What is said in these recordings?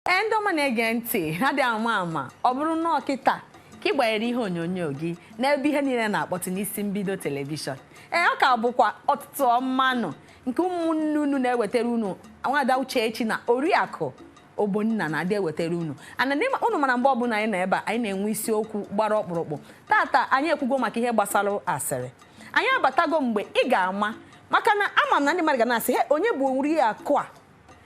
ee ndị ọma na-ege ntị a dị ama ama ọ bụrụ na ọ kịta ka ị gbanyere ihe onyonyo gị n'ebe ihe niile na-akpọtụ n'isi mbido telivishọn ee ọ ka bụkwa ụtụtụ ọma nụ nke ụmụnne unu na-ewetara unu nwada Uchechi na oriakụ Ogbonna na-adị ewetara unu ana n'ime unu mara mgbe ọbụla anyị nọ ebe a anyị na-enwe isiokwu gbara ọkpụrụkpụ tata anyị ekwugo maka ihe gbasara asịrị anyị abatago mgbe ị ga-ama maka na ama m na ndị mmadụ ga na-asị he onye bụ oriakụ a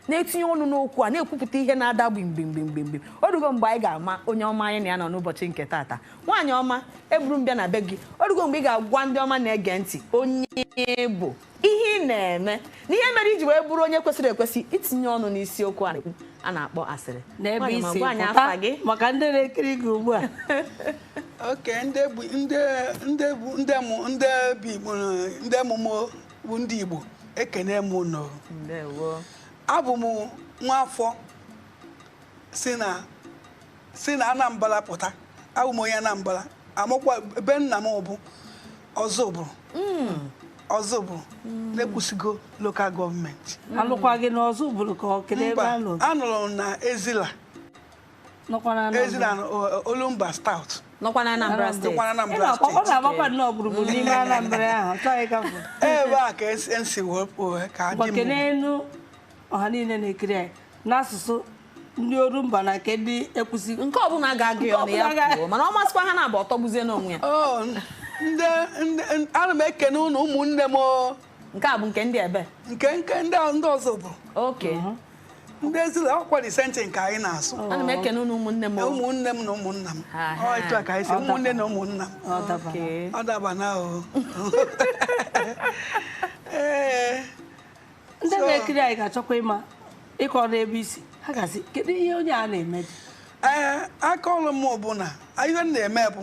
na-etinye ọnụ n'okwu a na-ekwupụta ihe na-ada gbimgbimgbimgbim o rugo mgbe anyị ga-ama onye ọma anyị na ya nọ n'ụbọchị nke taata nwaanyị ọma eburu m bịa na be gị o rugo mgbe ị ga-agwa ndị ọma na-ege ntị onye ị bụ ihe ị na-eme na ihe mere i ji wee bụrụ onye kwesịrị ekwesị itinye ọnụ n'isiokwu a na-ekwu a na-akpọ asịrị n'ebe Nwaanyị ọma i si gwa anyị afa gị pụta maka ndị na-ekiri gị ugbu a oke ndị bụ ndị ndị bụ ndị mụ ndị bi mụ- ndị mụmụ bụ ndị Igbo ekene m unu ndewo abụ m nwa afọ si na si na Anambra pụta abụ m onye Anambra amụkwa be nna m bụ Ozubulu Ozubulu na Ekwusigo lokal gọọmenti a lụkwa gị n'Ozubulu ka ọ kele ebe mba a lụrụ a nụrụ m na Ezila Ezila Olumba South nọkwa na Anambra steeti ọ na-agbakwa nnọọ gburugburu n'ime Anambra ahụ chọghị ka bụ ebe a ka esi wepụ ka dị m n'elu ọha niile na-ekiri anyị n'asụsụ ndị Orumba na nke ndị Ekwusi nke ọbụla ga-agụ ya ọnụ ya kwuo mana ọ ma asụkwa ha naabọ ọ tọgbuzie n'onwe ya ana m ekene unu ụmụnne m nke a bụ nke ndị ebe nke nke ndị a- ndị Ozubu- oke ndị Ezila ọkwa the same thing nke anyị na-asụ ana m ekene unu ụmụnne m ụmụnne m na ụmụnna m Ha, ha. Ọ etu a ka anyị si ụmụnne na ụmụnna m Ọ dabara. Oke. ọ daba na o ee ndị So- na-ekiri anyị ga-achọkwa ịma ị kọọna ebe i si ha ga-asị kedu ihe onye a na-emedị ee aka ọrụ m bụ na ihe m na-eme bụ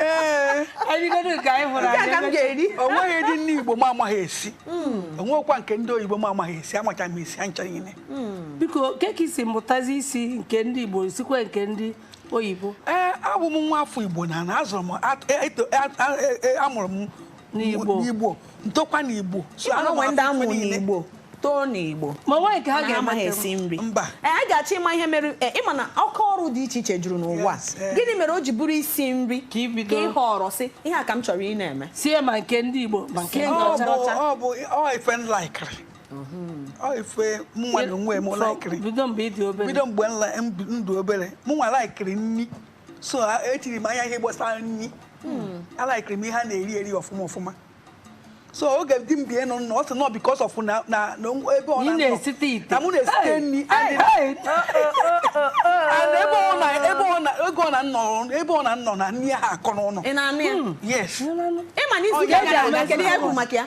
ee erigodo nke anyị hụrụ Nke a ka m ga-eri. o nweghịdị nni Igbo m amaghị esi o nweghịkwa nke ndị oyibo m amaghị esi amacha m esi ha ncha niile biko kee ka i si mụtazi isi nke ndị Igbo sikwa nke ndị oyibo ee abụ m nwa afọ Igbo na na a zụrụ m at- eto- a- a- e- a mụrụ m n'Igbo n'Igbo m tokwa n'Igbo so Ịma na anụmanụ ụmụ ndị a mụrụ niile. n'Igbo too n'Igbo ma nwaanyị ka ha Mana amaghị ga-emete esi nri Mba. Ee, anyị ga-achọ ịma ihe mere ee, ị ma na aka ọrụ dị iche iche juru n'ụwa Yes, eh. gịnị mere o ji bụrụ isi nri Ka ị bido. ị họrọ sị ihe a ka m chọrọ ịna-eme sie ma nke ndị Igbo ma nke Sie ndị ọ ọcha bụ ọcha. ọ bụ ọ ife m laikiri ọ ife mụnwa na onwe m laikiri bido mgbe ị dị obere bido mgbe m la- m bi- m dị obere mụnwa laikiri nri so etiri m anya ihe gbasara nri hmm. alaikiri m ihe a na-eri eri ọfụma ọfụma so oge di m bie nọ nọ ọ sị nọ because of na na ebe ọ na-anọ na mụ na-esite nri and ebe ọ na ebe ọ na ego ọ na nọ ebe ọ na nọ na nri aha akọ n'ụlọ hmm. yes ịma na isi ga-aga kedu ihe bụ maka ya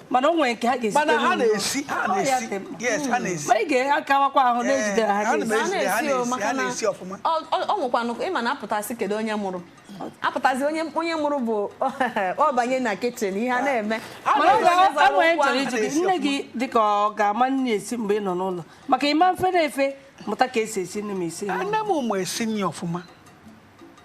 mana o nwere nke ha ga-esi mana ha na-esi ha na-esi yes ha na-esi ma ị ga-akawakwa ahụ na-ejide ha ha na-esi ọfụma ọ nwekwanụ ịma na apụtasị kedu onye mụrụ apụtazi onye onye mụrụ bụ ọ banye na kitchen ihe a na-eme enwere chọrọ iji gị nne gị dịka ọ ga-ama nri esi mgbe ị nọ n'ụlọ maka ị ma fe na efe mụta ka e si esi nri ma esi nne m ụmụ esi nri ọfụma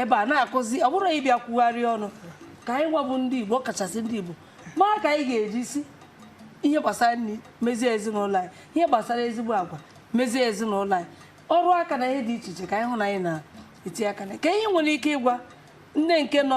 ebe a na-akụzi ọ bụrụ anyị bịa kwugharịa ọnụ ka anyị gwa bụ ndị Igbo ọkachasị ndị Igbo mara ka anyị ga-eji si ihe gbasara nri mezie ezinụlọ anyị ihe gbasara ezigbo agwa mezie ezinụlọ anyị ọrụ aka na ihe dị iche iche ka anyị hụ na anyị na-eti aka na kee ihe i nwere ike ịgwa nne nke nọ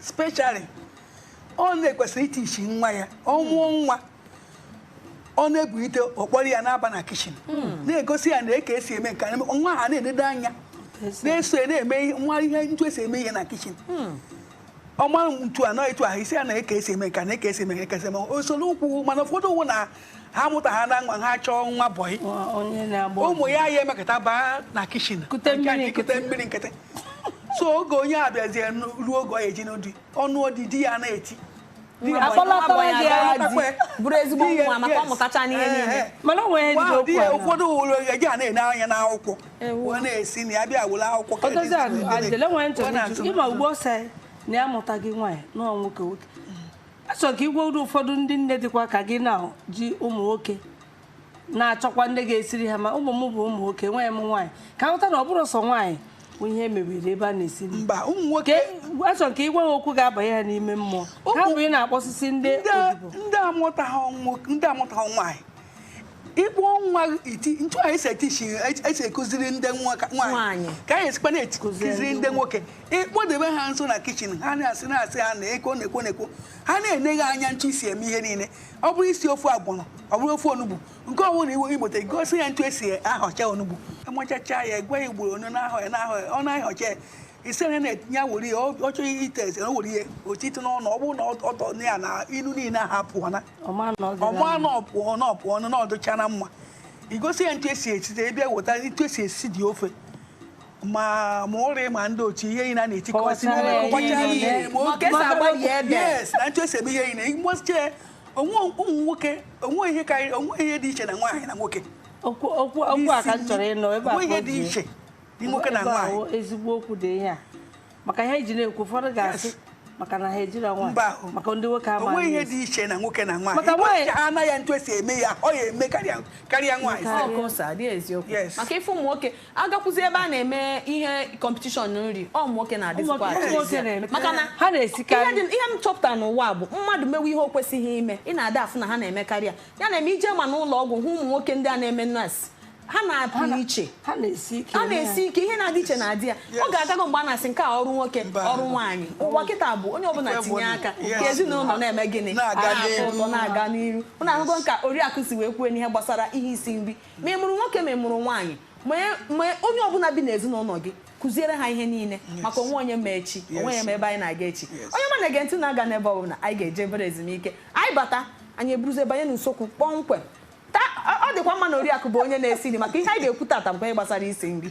specially ọ nne kwesịrị itichi nwa ya ọ mụọ nwa ọ na-ebulite ọ kpọrọ ya na-aba na kitchen hmm. na-egosi ya nee ka e si eme nke nwa ahụ na-enedo anya na-eso ya na-eme nwa ihe ntu esi eme ihe na kitchen hmm. ọma ntu anọ etu ahụ ị sị ya nee ka e si eme nke nee ka e si eme nke esi eme o soro ụkwụ mana ụfọdụ ugbu a ha mụta ha na nwa ha chọọ nwa bọyị ụmụ ya ya emekata baa na kitchen kute mmiri nkịtị so oge onye a bịazie ruo oge ọ ya-eji nụọ di ọ nụọ di di ya na-eti bụrụ ezigbo nwa maka ọ mụtacha n'ihe niile mana o nwere ejide okwu ya ụfọdụ ụlọ eji a na-ene anya n'akwụkwọ wee na-esi na ya bịa were akwụkwọ ịma ugbo ọsọ na ya mụta gị nwaanyị nọọ nwoke nwoke achọrọ m ka ị gwara ụfọdụ ndị nne dịkwa ka gị na ji ụmụ nwoke na-achọkwa ndị ga-esiri ha ma ụmụ m bụ ụmụ nwoke enweghị m nwaanyị ka ha ghọta na ọ bụrọ sọ nwaanyị bụ ihe e mebere ebe a na-esi mba ụmụ nwoke achọrọ m ka ị gwa ha okwu ga-abanye ha n'ime mmụọ ha bụ ị na-akpọsisi ndị ndị amụtaghị nwaanyị ịkpọ nwa iti ntu anyị si etichi e si akụziri ndị nwaanyị ka anyị sikwa na-akụziri ndị nwoke ịkpọdebe ha nso na kitchen ha na-asị na-asị ha na eko na-ekwo na-ekwo ha na-ene gị anya ntu i si eme ihe niile ọ bụrụ isi ofe ọgbọnọ ọ bụrụ ofe onugbu nke ọ bụla iwe igbote gosi ya ntu e si ahọcha onugbu amachacha ya gwa ya ugboro one a na-ahọ ya na-ahọ ya ọ na-ahọcha ya isi onye na-etinye were ya ọ chọghị ite eze o were ihe otiti n'ọnụ ọ bụrụ na ọ tọọ na ya na ilu niile ahụ apụọna ọ ma na ọ pụọna ọ pụọ ọnụ na ọ dịchana mma ị gosi ya ntu e si esite ede weta ntu e si esi dị ofe ma ma ụrị ma ndị otu ihe niile a na-etikọsị na ntu e si eme ihe niile mgbochie onwe ụmụ nwoke o nweghị ihe karịrị o nweghị ihe dị iche na nwaanyị na nwoke okwu a ka m chọrọ ịnụ ebe a ihe dị iche nwoke na nwaanyị ezigbo okwu dị ihe a maka ihe e ji na-ekwu ụfọdụ ga-asị maka na ha ejiri nwaanyị maka ndị nwoke ama o nwe ihe dị iche na nwoke na nwaanyị maka nwaanyị ha anaghị ntụ esi eme ya ọ ya eme karịa nwaanyị maka ife ụmụ nwoke a gakwuzi ebe a na-eme ihe competition nri ọ ụmụ nwoke na-adịzikwa maka na ha na-esikarị ihe m chọpụtara n'ụwa bụ mmadụ mewe ihe o kwesịghị ime ị na-ada afụ na ha na-eme karịa ya na-eme i jee ma n'ụlọ ọgwụ hụ ụmụ nwoke ndị a na-eme nurse ha na-apụ iche ha na-esi ike a na-esi ike ihe na-adị iche na-adị ya ọ ga-agago mgbe a na-asị nke a ọrụ nwoke Mba. ọrụ nwaanyị ụwa kịta bụ onye ọbụla Ife tinye bụ- aka Yes. ka ezinụlọ na-eme gịnị Na-aga A na-afụ n'ihu. ụtọ na-aga n'iru ụnụ ahụgo ka oriakụ si wee kwuo n'ihe gbasara ihe isi nri ma ị mụrụ nwoke ma ị mụrụ nwaanyị ma e- ma onye ọbụla bi n'ezinụlọ gị kụziere ha ihe niile maka o nweghị onye ma echi o nweghị onye ma ebe anyị na-aga echi Yes. onye ọma na-ege ntị agana ebe ọbụla anyị ga-eje obere ezumike anyị bata anyị eburuzie banye n'isiokwu kpọmkwem ọ dịkwa mma na oriakụ bụ onye na-esi nri maka ihe anyị ga-ekwu tata bụ ihe gbasara isi nri